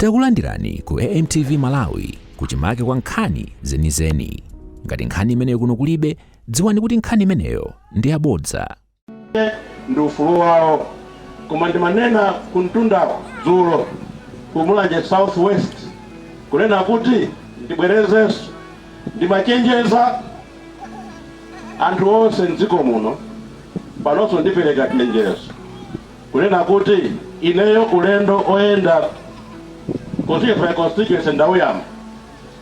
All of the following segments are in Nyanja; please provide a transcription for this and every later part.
Takulandirani ku AMTV Malawi kuchimake kwa nkhani zenizeni. Ngati nkhani imeneyo kuno kulibe, dziwani kuti nkhani imeneyo ndi yabodza. ndi ufulu wawo koma ndimanena kumtundako dzulo ku mulanje south west kunena kuti ndibwerezenso ndimachenjeza anthu onse mdziko muno panonso ndipereka chenjezo kunena kuti ineyo ulendo oyenda constituency by constituency ndauyamba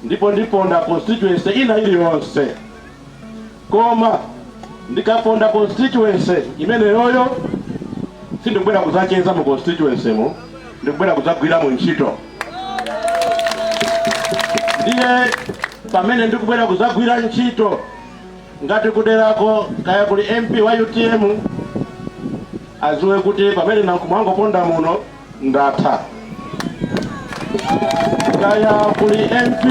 ndipo ndiponda constituency ina iliyonse koma ndikaponda constituency imeneyoyo sindikubwera kudzacheza mu constituency mu ndikubwera kudzagwira mu ntchito ndiye pamene ndikubwera kudzagwira ntchito Ngati kuderako kaya kuli MP wa utm aziwe kuti pamene Nankhumwa angoponda muno ndatha. Kaya kuli MP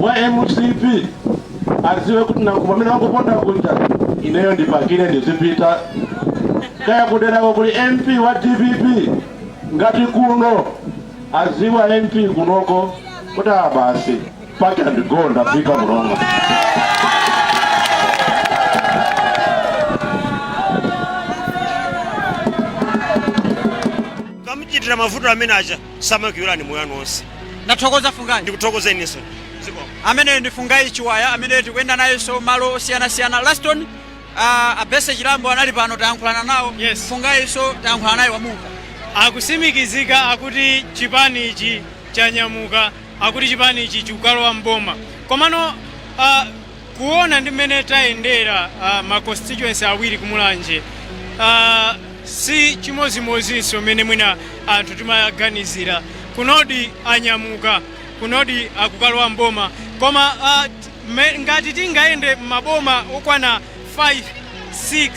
wa mcp aziwe kuti Nankhumwa pamene wangoponda kuja ineyo ndipakire ndizipita. Kaya kuderako kuli MP wa dpp ngati kuno aziwa MP kunoko kuti abasi Pack and go ndafika mlongo. kamuchitira mavuto amene aja samakuyiwalani moyo wanu onse ndathokoza fungayi ndikuthokoza inenso zikomo ameneyo ndi fungayi chiwaya amene tikuyenda nayenso malo osiyanasiyana laston uh, abese chilambo anali pano tayankhulana nawo yes. fungayinso tayankhulana naye wamumva akutsimikizika akuti chipani ichi chanyamuka akuti chipanichi chikukalowa m'boma komano a kuona ndi mmene tayendera a, ma constituency awiri kumulanje a, si chimodzimodzinso mmene mwina anthu timaganizira kunodi anyamuka kunodi akukalowa m'boma koma a, t- me- ngati tingayende m'maboma okwana 5 6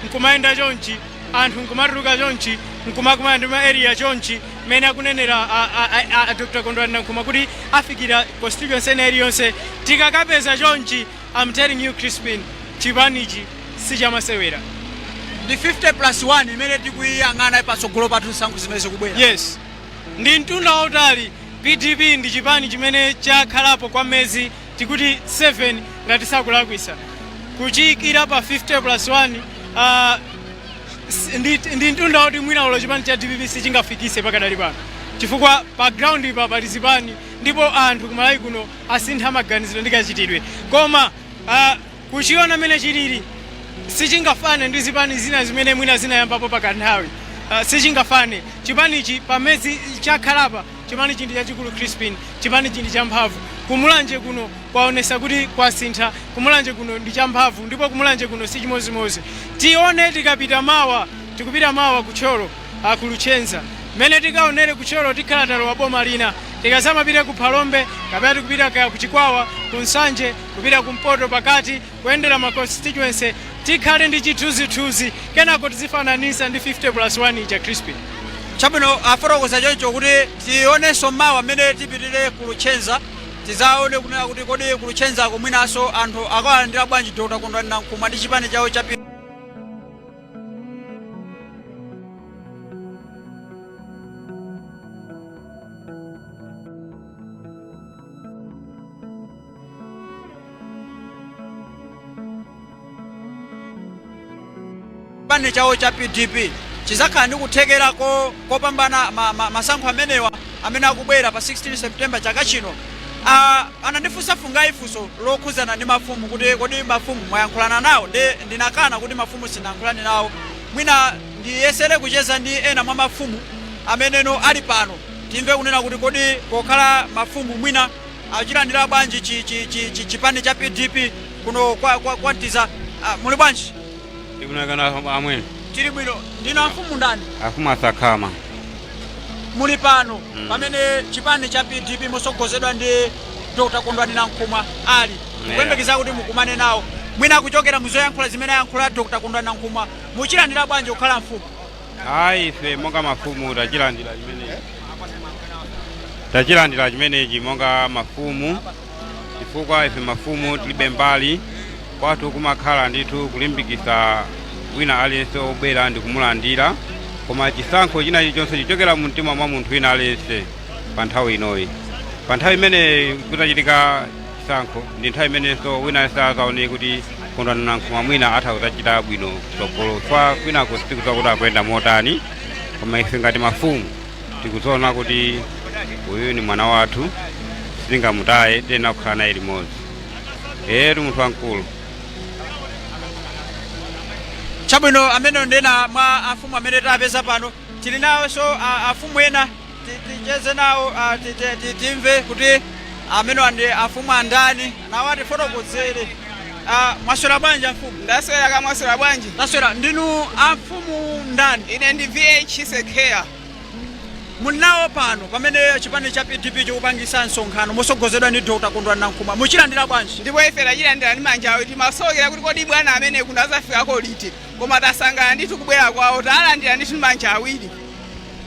nkumayenda chonchi anthu nkumatuluka chonchi nkumakumana ndi ma area chonchi mmene akunenera a, a, a, a, a dr kondwani nankhumwa kuti afikira constituency ina iliyonse tikakapeza chonchi I'm telling you crispin chipanichi sichamasewera ndi 50 plus 1 imene tikuyiyang'ana patsogolo pathu m'zisankho zimene zikubwera yes ndi mtunda wautali pdp ndi chipani chimene chakhalapo kwa mezi tikuti 7 ngati sindikulakwitsa kuchiikira pa 50 plus 1 uh, ndi, ndi mtunda woti mwina olo chipani cha dpp sichingafikise pakadali pano chifukwa pa ground ipa pali zipani ndipo anthu kumalawi kuno asintha maganizidwe ndi kachitidwe koma uh, Kuchiona mmene chilili, sichingafane ndi zipani zina zimene mwina zinayambapo pakanthawi, sichingafane, chipanichi pamezi chakhalapa, chipanichi ndi chachikulu Chrispin, chipanichi ndi champhamvu, ku Mulanje kuno kwaonesa kuti kwasintha, ku Mulanje kuno ndi champhamvu ndipo ku Mulanje kuno sichimozimozi, tione tikapita mawa, tikupita mawa ku Thyolo, a ku Luchenza, mmene tikaonele ku Thyolo tikhala talowa boma lina, tikazamapita ku Phalombe kapena tikupita kaya ku Chikwawa, ku Nsanje. kupita kumpoto, pakati, kuyendera ma constituency, tikhale ndi chithunzithunzi kenako tizifananitsa ndi 50 plus 1 ija Crispin. Chabwino, afotokoza choncho kuti tionenso mawa mmene tipitire ku Luchenza tidzaone kunena kuti kodi ku Luchenzako mwinanso anthu akawalandira bwanji Dr. Kondwani Nankhumwa ndi chipani chawo cha P- chipani chawo cha pdp chizakhala ndi kuthekera kopambana ma, ma, masankho amenewa amene akubwera pa 16 september chaka chino uh, anandifunsa Fungai funso lokhuzana ndi mafumu kuti kodi mafumu mwayankhulana nawo ndi ndinakana kuti mafumu sinayankhulane nawo mwina ndiyesere kucheza ndi ena mwa mafumu ameneno ali pano timve kunena kuti kodi pokhala mafumu mwina Achilandila bwanji chi chi chi chi chipani cha PDP kuno kwa kwa, kwa Nthiza ah, muli bwanji? Ndili bwino kaya amwene Tili bwino ndinu amfumu ndani? amfumu a Sakhama Muli pano pamene chipani cha PDP mosogozedwa ndi Dr. Kondwani Nankhumwa ali mukuyembekeza kuti mukumane nawo mwina kuchokera muzoyankhula zimene ayankhula Dr. Kondwani Nankhumwa muchilandira bwanji pokhala mfumu? ayi ife monga mafumu tachilandira chimenechi tachilandira chimenechi monga mafumu chifukwa ife mafumu tilibe mbali kwathu kumakhala ndithu kulimbikitsa wina aliyense obwera ndi kumulandira koma chisankho china chilichonse chichokera mu mtima mwa munthu wina aliyense pa nthawi inoyi pa nthawi imene kudzachitike chisankho ndi nthawi imenenso wina aliyense adzaonere kuti kondwani nankhumwa mwina atha kudzachita bwino kutsogolo chifukwa kwinako sitikudziwa kuti akuyenda motani koma ife ngati mafumu tikudziona kuti uyu ni mwana wathu sitingamutaye tiyenera kukhala naye limodzi etu munthu wamkulu chabwino ameneyo ndi ena mwa afumu amene tapeza pano tili nawonso a- afumu ena Ticheze nawo timve kuti amenewa ndi afumu andani, nawo atifotokozere. Mwaswera bwanji amfumu? Ndaswera kaya mwaswera bwanji? Ndaswera. Ndinu amfumu ndani? Ine ndi VH Sekheya. Muli nawo pano pamene chipani cha PDP chikupangisa msonkhano motsogozedwa ndi Dr. Kondwani Nankhumwa. Muchilandira bwanji? Ndipo ife tachilandira ndi manja awiri. Timasokera kuti kodi bwana amene kuno azafikako liti. Koma tasangalala ndithu kubwera kwawo. Talandira ndithu ndi manja awiri.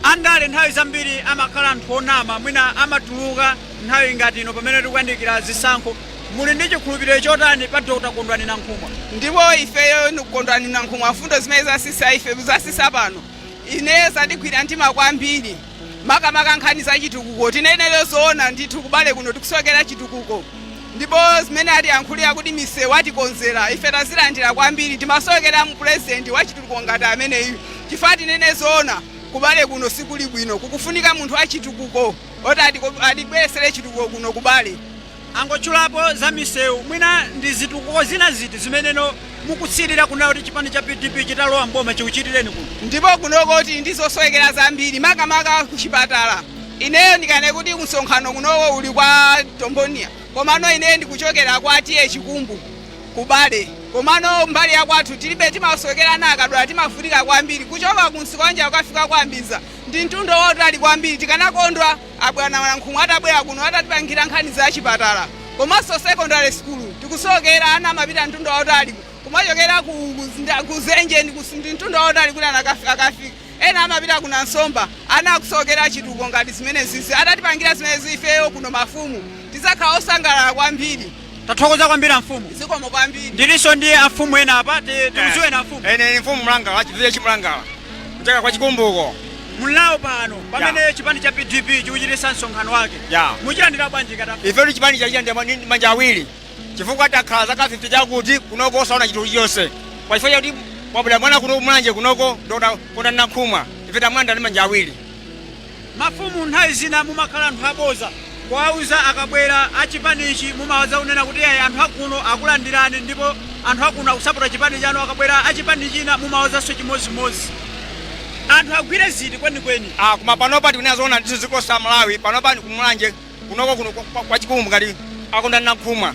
Andale nthawi zambiri amakhala anthu onama, mwina amatuluka nthawi ngati ino pamene tikuyandikira zisankho. Muli ndi chikhulupiriro chotani pa Dr Kondwani Nankhumwa? Ndipo ifeyo Kondwani Nankhumwa mfundo zimene atsitsa ife atsitsa pano. Ineyo zandigwira mtima kwambiri makamaka nkhani za chitukuko. Tinene zoona ndithu ku Bale kuno tikusowekera chitukuko. Ndipo zimene atiyankhulira kuti misewu atikonzera, ife tazilandira kwambiri. Timasowekera mu president wachitukuko ngati ameneyu chifukwa tinene zoona ku Bale kuno sikuli bwino. Kukufunika munthu wachitukuko oti atibweretsere chitukuko kuno ku Bale. Angotchulapo za misewu, mwina ndi zitukuko zina ziti zimene inu mukusirira kunena kuti chipani cha PDP chitalowa m'boma chikuchitireni kuno? Ndipo kunoko tili ndi zosowekera zambiri makamaka kuchipatala. Ineyo ndikane kuti msonkhano unowo uli kwa Tombonia komano ineyo ndikuchokera kwa TA Chikumbu ku Bale komano mbali ya kwathu tilibe timasokera ana akadwala timavutika kwambiri kuchoka ku Nsikwanja kukafika kwa Mbiza ndi mtunda wautali kwambiri tikanakondwa abwana Nankhumwa atabwera kuno atatipangira nkhani za chipatala komanso secondary school tikusokera ana amapita mtunda wautali kumachokera ku, ku, ku Zenje ndi, ndi mtunda wautali kuti akafike Ena amapita ku Nansomba ana akusokera chitukuko ngati zimenezizi. Atatipangira zimenezi ifeyo kuno mafumu tidzakhala osangalala kwambiri. Tathokoza kwambiri amfumu. Zikomo kwambiri. Ndilinso ndi amfumu ena apa, ti- tikudziweni amfumu. Ine ndi mfumu Mlangala, chifumu cha Chimlangala. Kuchokera kwa Chikumbuko. Muli nawo pano pamene chipani cha PDP chikuchititsa msonkhano wake. Yeah. Muchilandira bwanji ngati amfumu? Ife chipanichi tachilandira ndi manja awiri. chifukwa takhala zaka 50 chakuti kunoko osaona chinthu chilichonse koma chifukwa chakuti kwabwera mwana kuno ku Mulanje kunoko Dr. Kondwani Nankhumwa ife tamulandira ndi manja awiri. Mafumu nthawi zina mumakhala anthu aboza kuwauza akabwera a chipanichi mumawauza kunena kuti ayi anthu akuno akulandirani ndipo anthu akuno akusapota chipani chanu akabwera a chipani china mumawauzanso chimodzimodzi anthu agwire ziti kwenikweni? Ah, koma panopa tikunena zoona ndithu dziko la Malawi panopa ndi ku Mulanje kunoko kuno kwa- kwa- kwa Chikumbu ngati a Kondwani Nankhumwa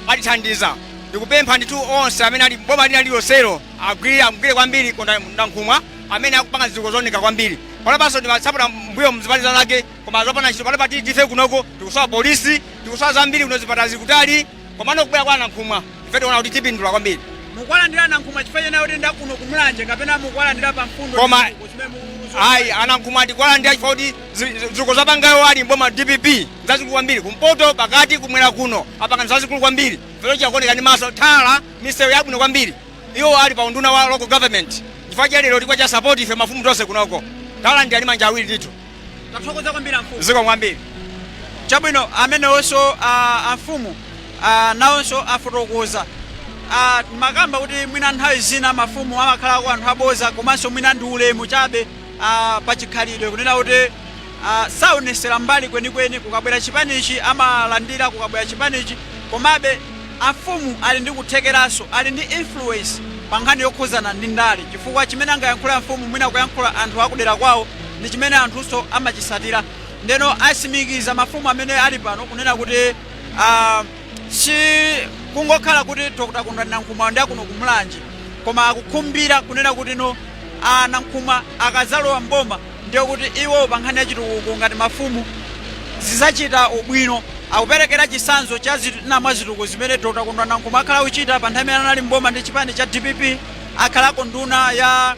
atithandiza ndikupempha ndithu onse amene ali boma lina lililonselo agwire amgwire kwambiri Kondwani Nankhumwa amene akupanga zitukuko zooneka kwambiri panopanso timasapota m'mbuyomu zipani zinazake koma zopanda ntchito panopa ife kunoko tikusowa polisi tikusowa zambiri kuno zipatala zikutali Komano kubwera kwa Nankhumwa ife tiona kuti tipindula kwambiri. Mukuwalandira Nankhumwa chifukwa chena kuti ndi akuno ku Mulanje kapena mukuwalandira pa mfundo Koma ayi a Nankhumwa tikuwalandira chifukwa kuti zitukuko zapanga iwo ali m'boma DPP nzazikulu kwambiri kumpoto pakati kumwera kuno apanga zazikulu kwambiri vero chakuoneka ndi maso tala misewu yabwino kwambiri iwo ali pa unduna wa local government chifukwa chake lero tikuwachita support ife mafumu tonse kunoko tawalandira ndi manja awiri ndithu. Tathokoza kwambiri amfumu. Zikomo kwambiri chabwino amenewonso ah, amfumu ah, nawonso afotokoza Ah, timakamba kuti mwina nthawi zina mafumu amakhalako anthu aboza komanso mwina ndi ulemu chabe ah, pa chikhalidwe kunena kuti ah, saonesera mbali kwenikweni kukabwera chipanichi amalandira kukabwera chipanichi komabe Amfumu ali ndi kuthekeranso, ali ndi influence pa nkhani yokhuzana ndi ndale chifukwa chimene angayankhule amfumu mwina kuyankhula anthu akudera kwawo ndi chimene anthunso amachisatira ndiyeno asimikiza mafumu amene ali pano kunena kuti aah si kungokhala kuti Dr Kondwani Nankhumwa ndi akuno ku Mulanje koma akukhumbira kunena kuti no a Nankhumwa akazalowa m'boma ndiye kuti iwo pa nkhani ya chitukuko ngati mafumu zizachita ubwino. Akuperekera chisanzo cha zina mwa zitukuko zimene Dr Kondwani Nankhumwa akhala akuchita pa nthawi imene anali m'boma ndi chipani cha dpp, akhalako nduna ya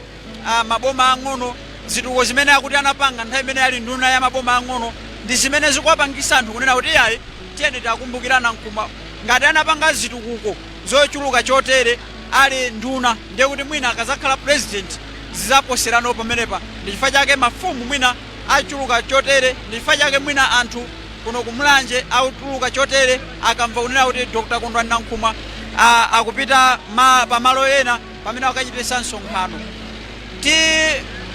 maboma ang'ono, zitukuko zimene akuti anapanga nthawi imene ali nduna ya maboma ang'ono ndi zimene zikuwapangisa anthu kunena kuti iyayi tiyeni tiakumbukire a Nankhumwa ngati anapanga zitukuko. zochuluka chotere ali nduna ndiye kuti mwina akazakhala president zizaposerano pamenepa ndi chifukwa chake mafumu mwina achuluka chotere ndi chifukwa chake mwina anthu kuno ku Mulanje akutuluka chotere akamva kunena kuti Dr. Kondwani Nankhumwa a, akupita ma, pa malo ena pamene akukachitisa msonkhano ti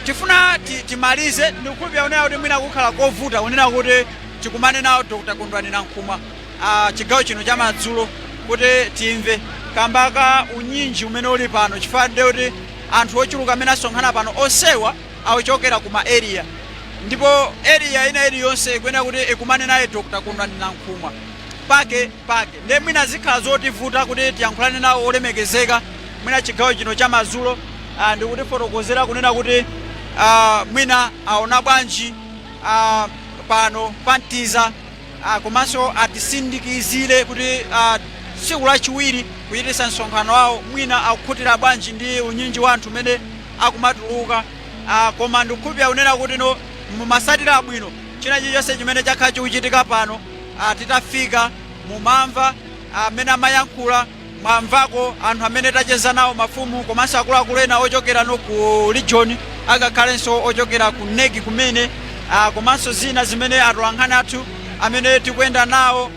tifuna ti, timalize ndikukhulupirira kunena kuti mwina kukhala kovuta kunena kuti tikumane nawo Dr. Kondwani Nankhumwa a chigawo chino chamadzulo kuti timve kamba ka unyinji umene uli pano chifukwa ndiye kuti anthu ochuluka amene asonkhana pano onsewa akuchokera ku ma area ndipo area ina iliyonse ikuyenera kuti ikumane naye Dr. Kondwani Nankhumwa pakepake ndiye mwina zikhala zotivuta kuti tiyankhulane nawo olemekezeka mwina chigawo chino chamadzulo ah, ndikutifotokozera kunena kuti ah, mwina aona bwanji ah, pano pa Mtiza a komanso atisindikizire kuti a tsiku lachiwiri kuchititsa msonkhano wawo mwina akukhutira bwanji ndi unyinji wa anthu umene akumatuluka a koma ndikukhulupirira kunena kuti no mumasatira bwino china chilichonse chimene chakhala chikuchitika pano a titafika mumamva mmene amayankhula Mwamvako anthu amene tacheza nawo mafumu komanso akuluakulu ena ochokera no ku region angakhalenso ochokera ku NEC kumene ah, komanso zina zimene atolankhani athu amene tikuyenda nawo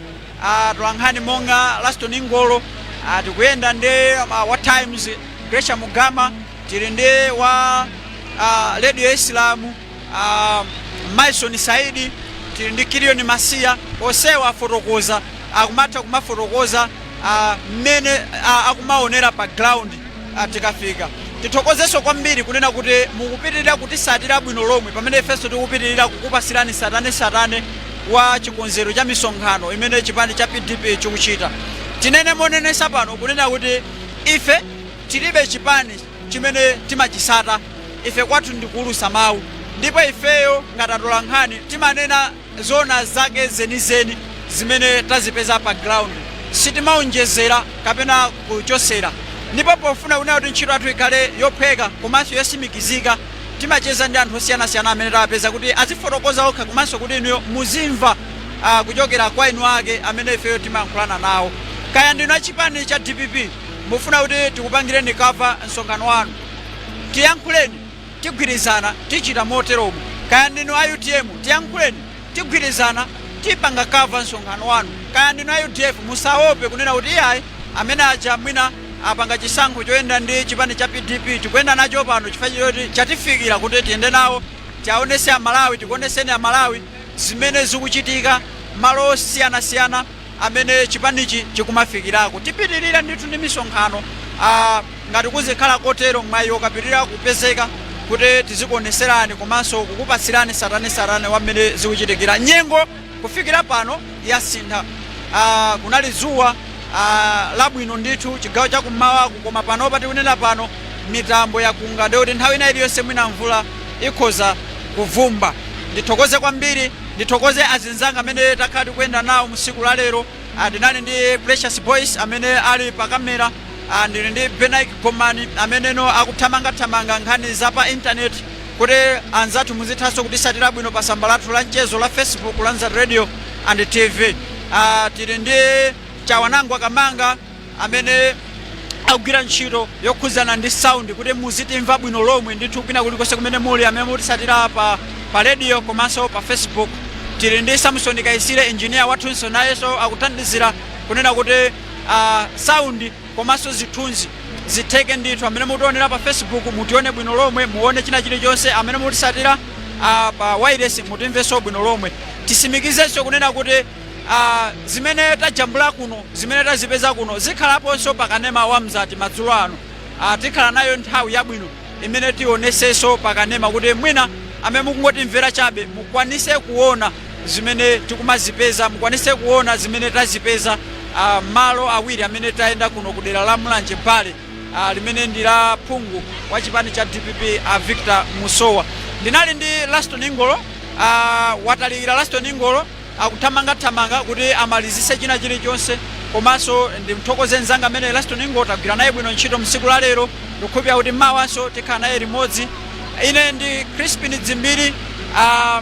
ah, atolankhani monga Laston Ngolo ah, tikuyenda ndi ah, wa Times Gracia Mugama tili ndi wa ah, Radio Islam a Maison Saidi tili ndi Kilion Masiya onsewa afotokoza akumatha kumafotokoza ah, mmene ah, akumaonera pa ground ah, tikafika tithokozenso kwambiri kunena kuti mukupitirira kutisatira bwino lomwe pamene ifenso tikupitirira kukupasirani satane satane wa chikonzero cha misonkhano imene chipani cha pdp chikuchita tinene monenesa pano kunena kuti ife tilibe chipani chimene timachisata ife kwathu ndi kuulusa mau ndipo ifeyo ngati atolankhani timanena zoona zake zenizeni zimene tazipeza pa ground sitimaonjezera kapena kuchosera ndipo pofuna kunena kuti ntchito yathu ikhale yophweka komanso yosimikizika timacheza ndi anthu osiyanasiyana amene tawapeza kuti azifotokoza okha komanso kuti inuyo muzimva ah, kuchokera kwa eni ake amene ifeyo timayankhulana nawo kaya ndinu achipani cha dpp Mufuna kuti tikupangireni cover msonkhano wanu? Tiyankhuleni, tigwirizana, tichita moteromo. Kaya ndinu a utm, tiyankhuleni, tigwirizana, tipanga cover msonkhano wanu. Kaya ndinu a udf, musaope kunena kuti iyayi amene aja mwina apanga chisankho choyenda ndi chipani cha pdp, tikuyenda nacho pano chifukwa choti chatifikira kuti tiyende nawo, tiaonese Amalawi, tikuoneseni Amalawi zimene zikuchitika malo osiyanasiyana. amene chipanichi chikumafikirako. Tipitirira ndithu ndi misonkhano a ngati kuzikhala kotero mwayi ukapitirira kupezeka kuti tizikuoneserani komanso kukupasirani satanesatane wa mmene zikuchitikira. Nyengo kufikira pano yasintha a kunali zuwa a labwino ndithu chigawo cha kummawaku koma panopa tikunena pano mitambo yakunga ndekuti nthawi ina iliyonse mwina mvula ikhoza kuvumba. Ndithokoze kwambiri. Ndithokoze azinzanga amene takhala tikuyenda nawo mu siku la lero. A tinali ndi Precious Boyce amene ali pa camera, a ndili ndi Benaik Gomani amene akuthamanga thamanga nkhani za pa internet kuti anzathu muzithanso kutisatira bwino pa samba lathu la mchezo la Facebook la Mzati Radio and TV. A tili ndi Chawanangwa Kamanga. amene akugwira ntchito yokhuzana ndi sound kuti muzitimva bwino lomwe ndithu kwina kulikonse kumene muli amene mutisatira pa, pa radio komanso pa facebook tili ndi samson kaisire engineer wathunso nayenso akuthandizira kunena kuti uh, sound komanso zithunzi zitheke ndithu amene mutionera pa facebook mutione bwino lomwe muone china chilichonse amene mutisatira uh, pa wireless mutimvenso bwino lomwe tisimikizenso kunena kuti uh, zimene tajambula kuno zimene tazipeza kuno zikhalaponso pa kanema wa mzati madzulo ano uh, tikhala nayo nthawi yabwino imene tionesenso pa kanema kuti mwina amene mukungotimvera chabe mukwanise kuona zimene tikumazipeza mukwanise kuona zimene tazipeza uh, malo awiri amene tayenda kuno ku dera la mulanje bale uh, limene ndi la phungu wa chipani cha dpp uh, victor musowa ndinali ndi laston ngolo uh, watalikira laston ngolo akuthamangathamanga kuti amalizise china chilichonse komanso ndimthokoze nzanga amene Laston Ngolo tagwira naye bwino ntchito msiku la lero ndikukhulupirira kuti mawanso tikhala naye limodzi ine ndi Crispin Dzimbiri ah,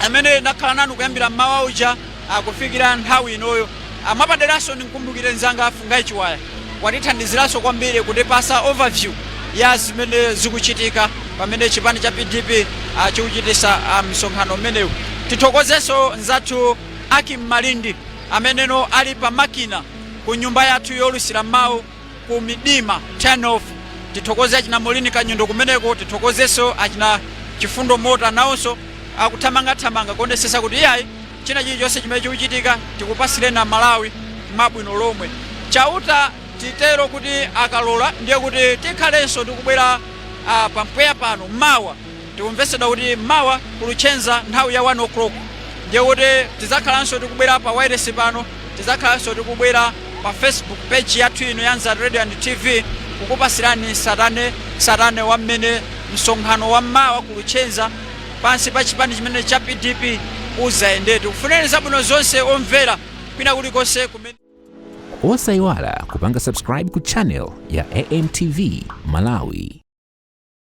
amene ndakhala nanu kuyambira mmawa uja ah, kufikira nthawi inoyo ah, mwapaderanso ndimkumbukire nzanga a Fungai Chiwaya Watithandiziranso kwambiri kutipasa overview ya zimene zikuchitika pamene chipani cha PDP chikuchitisa msonkhano umenewu. Tithokozenso nzathu Ackim Malindi amenenso ali pa makina ku nyumba yathu yolusira mau ku Midima turn off. Tithokoze achina Moureen Kanyundo kumeneko. Tithokozenso achina Chifundo Mota nawonso akuthamangathamanga kuonesesa kuti iyayi. China chilichonse chimene chikuchitika tikupasireni a Malawi mwabwino lomwe. Chauta titero kuti akalola ndiye kuti tikhalenso tikubwera pa mpweya pano mawa. Tikumvetsedwa kuti mawa ku Luchenza nthawi ya 1:00 ndiye kuti tidzakhalanso tikubwera pa wailesi pano, tidzakhalanso tikubwera pa Facebook page yathu ino ya Mzati Radio and TV kukupasirani satane satane wa mmene msonkhano wa mawa ku Luchenza, pansi pa chipani chimene cha pdp uzayende. Tikufunireni zabwino zonse omvera kwina kulikonse kumene. Osaiwala kupanga subscribe ku channel ya AMTV Malawi.